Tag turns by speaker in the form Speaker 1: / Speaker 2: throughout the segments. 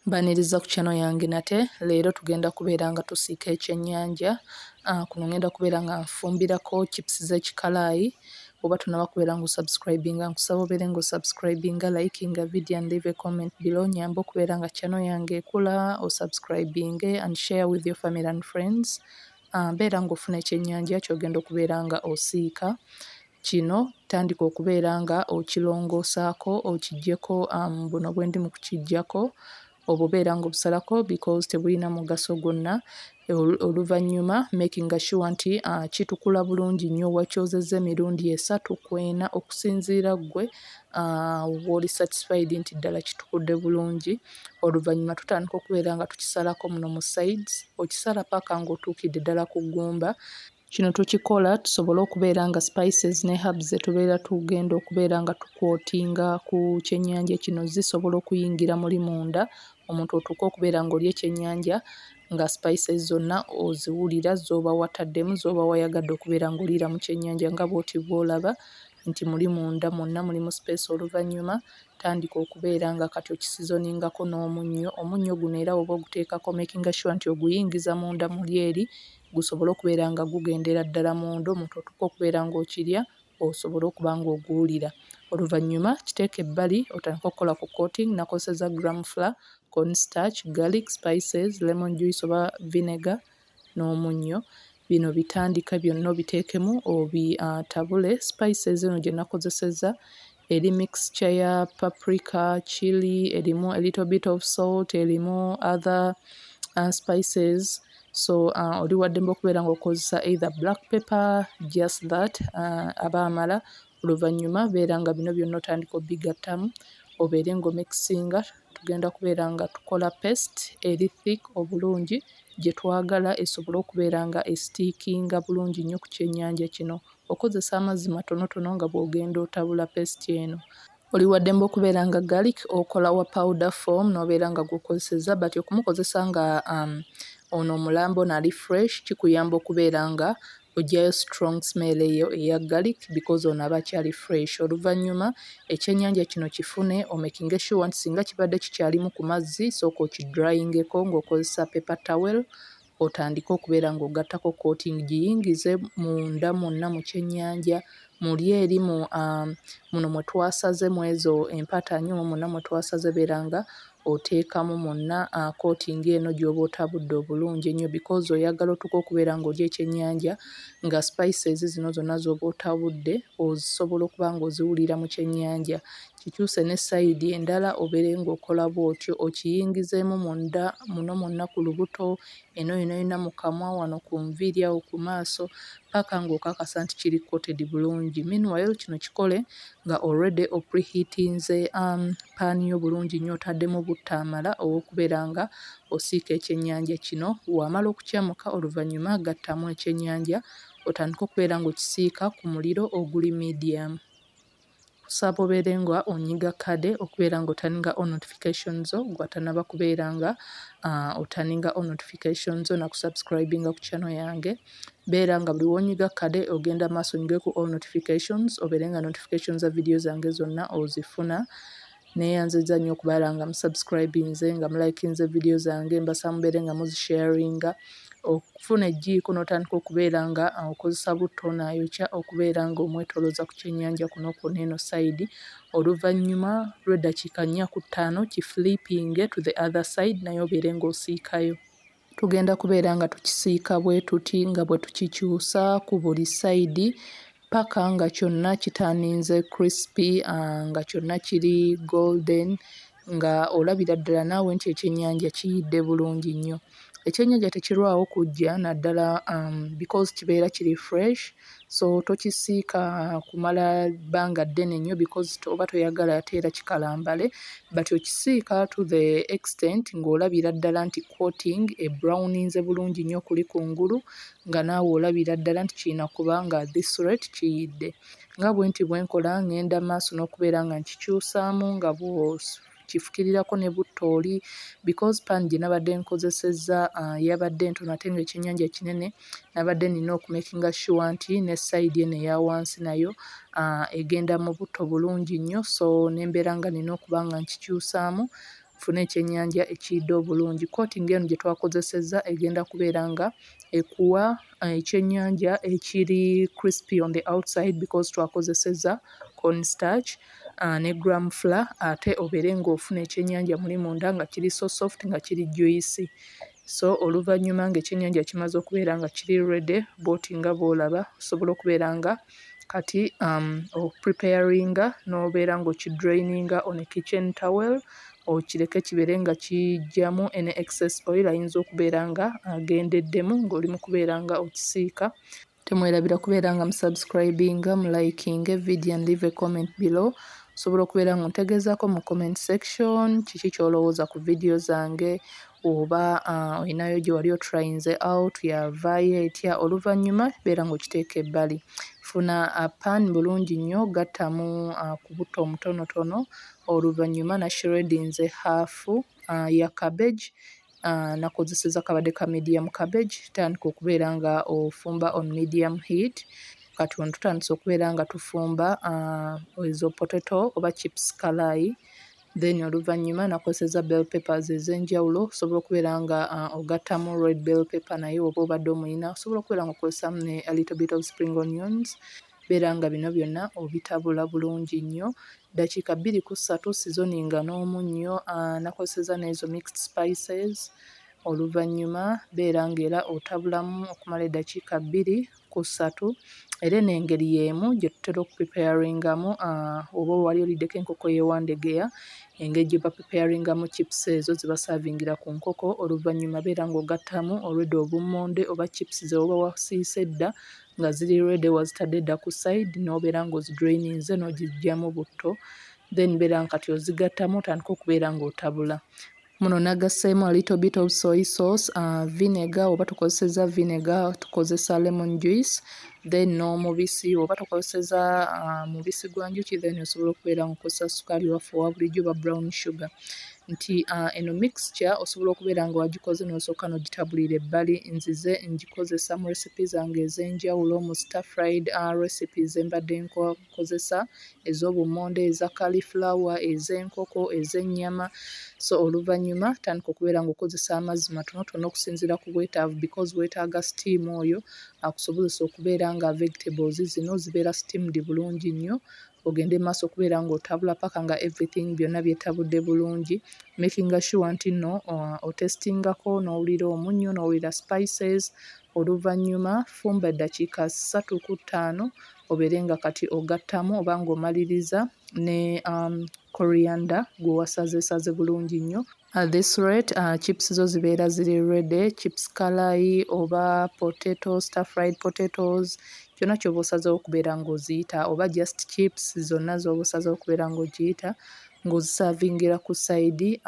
Speaker 1: Mbaniriza ku channel yange nate leero tugenda kubeera nga tusiika ekyennyanja ah, kuno ngenda kubeera nga nfumbirako chips z'ekikalaayi oba tunaba kubeera nga osubscribinga nkusaba obeere nga osubscribinga likinga video and leave a comment below nyamba okubeera nga channel yange ekula osubscribinge and share with your family and friends beera ng'ofuna ekyennyanja ky'ogenda okubeera nga osiika. Kino tandika okubeera nga okirongoosaako okiggyeko buno bwe ndi mu kukiggyako obwo obeera ng'obusalako because tebulina mugaso gwonna. Oluvannyuma makinga sure nti kitukula bulungi nnyo wakyozezza emirundi esatu ku ena okusinziira ggwe w'oli satisfied nti ddala kitukudde bulungi. oluvannyuma tutandika okubeera nga tukisalako muno mu sides okisala paka ng'otuukidde ddala ku ggumba kino tukikola tusobole okubeera nga spices ne herbs zetubeera tugenda okubeera nga tukwotinga ku kyennyanja kino zisobola okuyingira muli munda omuntu otuuka okubeera ng'oli ekyennyanja nga spices zonna oziwulira z'oba wataddemu z'oba wayagadde okubeera ng'oliira mu kyennyanja nga bw'oti bw'olaba nti muli munda mwonna mulimu space oluvannyuma tandika okubeera nga kati okisizoningako n'omunnyo, omunnyo guno era woba oguteekako omekinga shuwa nti oguyingiza munda muli eri gusobole okubeera nga gugendera ddala munda omuntu otuuke okubeera nga okirya osobole okuba nga oguwulira. Oluvannyuma kiteeke ebbali otandike okukola ku coating nakozesezza gram flour, corn starch, garlic, spices, lemon juice oba vinegar n'omunnyo bino bitandike byonna obiteekemu obitabule. Spices eno gye nakozesezza eri mixture ya paprika, chilli, erimu a little bit of salt, erimu other uh, spices so uh, oli waddembe okubeera ng'okozesa either black pepper just that uh, aba amala Oluvannyuma beera nga bino byonna otandika obigattamu obeere nga omikisinga. Tugenda kubeera nga tukola paste eri thick obulungi gye twagala esobole okubeera nga esitiikinga bulungi nnyo ku kyennyanja kino. Okozesa amazzi matonotono nga bw'ogenda otabula paste eno. Oli wa ddembe okubeera nga garlic okola wa powder form n'obeera nga gw'okozesezza but okumukozesa nga ono omulamba, ono ali fresh kikuyamba okubeera nga Ojjayo strong smell eyo eya garlic because ono aba akyali fresh. Oluvanyuma ekyenyanja kino kifune omekinge sure nti singa kibadde kikyalimu ku mazzi sooka oki dryingeko nga okozesa paper towel otandike okubeera nga ogattako coating giyingize munda mwonna mu kyenyanja muli eri mu aah muno mwe twasaze mwezo empatanyo muna mwe twasaze bera nga otekamu muna aah koti nga eno gyoba otabudde obulungi enyo because oyagala otuke okubera nga olya ekyenyanja nga spices zino zona zoba otabudde osobola okuba nga oziwulira mu kyenyanja kikyuse ne side endala obere nga okola bwotyo okiyingizemu munda muno muna ku lubuto eno yonayona mu kamwa wano ku nviiri awo ku maaso paka ng'okakasa nti kiri coated bulungi. Meanwhile kino kikole nga already o preheatinze um, pan yo bulungi nnyo otaddemu butta amala ow'okubeera nga osiika ekyennyanja kino. Wamala okukyamuka oluvannyuma gattamu ekyennyanja otandike okubeera ng'okisiika ku muliro oguli medium. Kusaba obeere nga onyiga kade okubeera nga otaninga all notification zo gwe atanaba kubeera nga uh, otaninga all notification zo na kusubscribinga ku channel yange beera nga buli wonyiga kade ogenda maaso onyige ku all notifications obeere nga notification za video zange zonna ozifuna Neyanziza nyo okubala nga mu subscribinze nga mu likinze video zange mbasa mubere nga muzi sharinga okufuna ejjiiko notandika okubeera nga okozesa butto nayokya okubeera nga omwetoloza ku kyenyanja kuno kwona eno side oluvanyuma lweddakiika nnya ku ttaano ki flipinge to the other side naye obeere nga osiikayo. tugenda kubeera nga tukisiika bwe tuti nga bwe tukikyusa ku buli sayidi paka nga kyonna kitaninze crispy ah, nga kyonna kiri golden nga olabira ddala naawe nti ekyennyanja kiyidde bulungi nnyo ekyennyanja tekirwawo kujja naddala um, because kibeera kiri fresh so tokisiika kumala bbanga ddene nnyo because oba toyagala ate era kikalambale but okisiika to the extent ng'olabira ddala nti coating ebrownings bulungi nnyo kuli ku ngulu nga naawe olabira ddala nti kirina kuba nga this rate kiyidde nga bwe nti bwe nkola ng'enda maaso n'okubeera nga nkikyusaamu nga bw'osu kifukirirako ne butto oli because pan gye nabadde nkozesezza uh, yabadde ntono ate nga ekyennyanja kinene nabadde nina okumakinga sure nti ne side eno eya wansi nayo uh, egenda mu butto bulungi nnyo so nembeera nga nina okuba nga nkikyusaamu nfune ekyennyanja ekiyidde obulungi coating eno gye twakozesezza egenda kubeera nga ekuwa ekyennyanja ekiri crispy on the outside because twakozesezza corn starch uh, ne gram flour ate obeere ng'ofuna ekyennyanja muli munda nga kiri so soft nga kiri juicy so oluvannyuma ng'ekyennyanja kimaze okubeera nga kiri ready bwoti nga bw'olaba osobola okubeera nga uh, kati am o preparinga nobeera nga okidraininga on a kitchen towel okireke kibeere nga kijjamu any excess oil ayinza okubeera nga agendeddemu ng'oli mu kubeera nga okisiika. Temwerabira kubeera nga mu subscribinga, mu likinge video and leave a comment below osobola okubeera nga ontegeezaako mu comment section kiki ky'olowooza ku video zange oba olinayo gye wali otulayinze out yavaayo etya oluvannyuma beera ng'okiteeka ebbali. Funa pan bulungi nnyo gattamu ku butto omutonotono oluvannyuma nashreddinze half ya cabbage nakozesezza kabadde ka medium cabbage tandika okubeera nga ofumba on medium heat. Kati wano tutandise okubeera nga tufumba ezo potato oba chips kalaayi. then oluvannyuma nakozeseza bell papers ez'enjawulo osobola okubeera nga uh, ogattamu red bell paper naye oba obadde omulina osobola okubeera nga okozesamu ne a little bit of spring onions beera nga bino byonna obitabula bulungi nnyo ddakiika bbiri ku ssatu sizoni nga n'omunnyo uh, nakozeseza n'ezo mixed spices oluvannyuma beera ng'era otabulamu okumala eddakiika bbiri ku ssatu era eno engeri y'emu gye tutera okupipeyaringamu oba wali oliddeko enkoko y'e Wandegeya engeri gye bapipeyaringamu chipusi ezo ze basaavingira ku nkoko oluvannyuma beera ng'ogattamu already obummonde oba chipusi ze waba wasiise edda nga ziri ready wazitadde edda ku sayidi n'obeera ng'ozidraininze n'ogiggyamu butto then beera nga kati ozigattamu otandika okubeera ng'otabula. Muno nagasseemu a little bit of soy sauce, uh, vinegar oba tukozeseza vinegar, tukozesa lemon juice then n'omubisi oba tukozeseza uh, mubisi gwa njuki then osobola okubeera nga okozesa sukaali waffe owa bulijjo oba brown sugar nti uh, eno mixture osobola okubeera nga wagikoze n'osooka n'ogitabulira ebbali nzize ngikozesa mu recipe zange ez'enjawulo mu star fried uh, recipes embadde nkola okukozesa ez'obummonde, eza kalifulawa, ez'enkoko, ez'ennyama so oluvannyuma tandika okubeera ng'okozesa amazzi matonotono okusinziira ku bwetaavu because weetaaga steam oyo akusobozese okubeera nga vegetables zino zibeera steamed bulungi nnyo ogende mu maaso okubeera ng'otabula paka nga everything byonna byetabudde bulungi making sure nti nno uh, otestingako n'owulira omunnyo n'owulira spices oluvannyuma fumba eddakiika ssatu ku ttaano obeere nga kati ogattamu oba ng'omaliriza ne coriander gwe wasazeesaze bulungi nnyo. At this rate chips zo zibeera ziri ready, chips kalaayi oba potato, star fried potatoes kyonna ky'oba osazeewo okubeera ng'oziyita oba just chips zonna z'oba osazeewo okubeera ng'ogiyita ng'ozisaavingira ku sayidi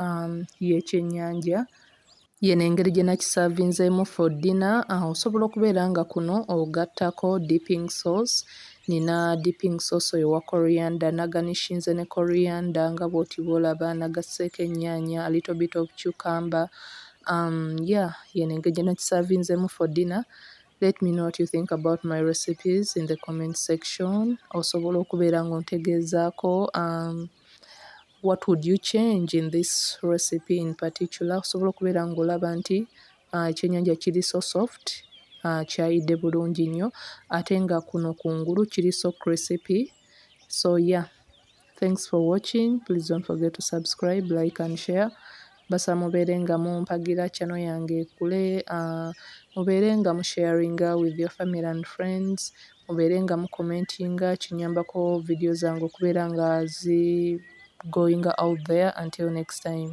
Speaker 1: y'ekyennyanja Yeno engeri gyenakisavinzemu for dinner uh, osobola okubeera nga kuno ogattako dipping sauce nina dipping sauce oyo wa coriander naganishinze ne coriander nga bwoti bwolaba nagasseeko ennyaanya a little bit of cucumber um, yeah yeno engeri gyenakisavinzemu for dinner let me know what you think about my recipes in the comment section osobola okubeera nga ontegeezaako um, What would you change in this recipe in particular? Osobola okubeera ng'olaba nti ah, ekyennyanja kiri so soft ah, kyayidde bulungi nnyo ate nga kuno kungulu kiri so crispy so yeah thanks for watching please don't forget to subscribe like and share basa mubeere nga mumpagira channel yange ekule ah, mubeere nga musharinga with your family and friends mubeere nga mu commentinga kinyambako video zange okubeera nga zi goinga out there until next time.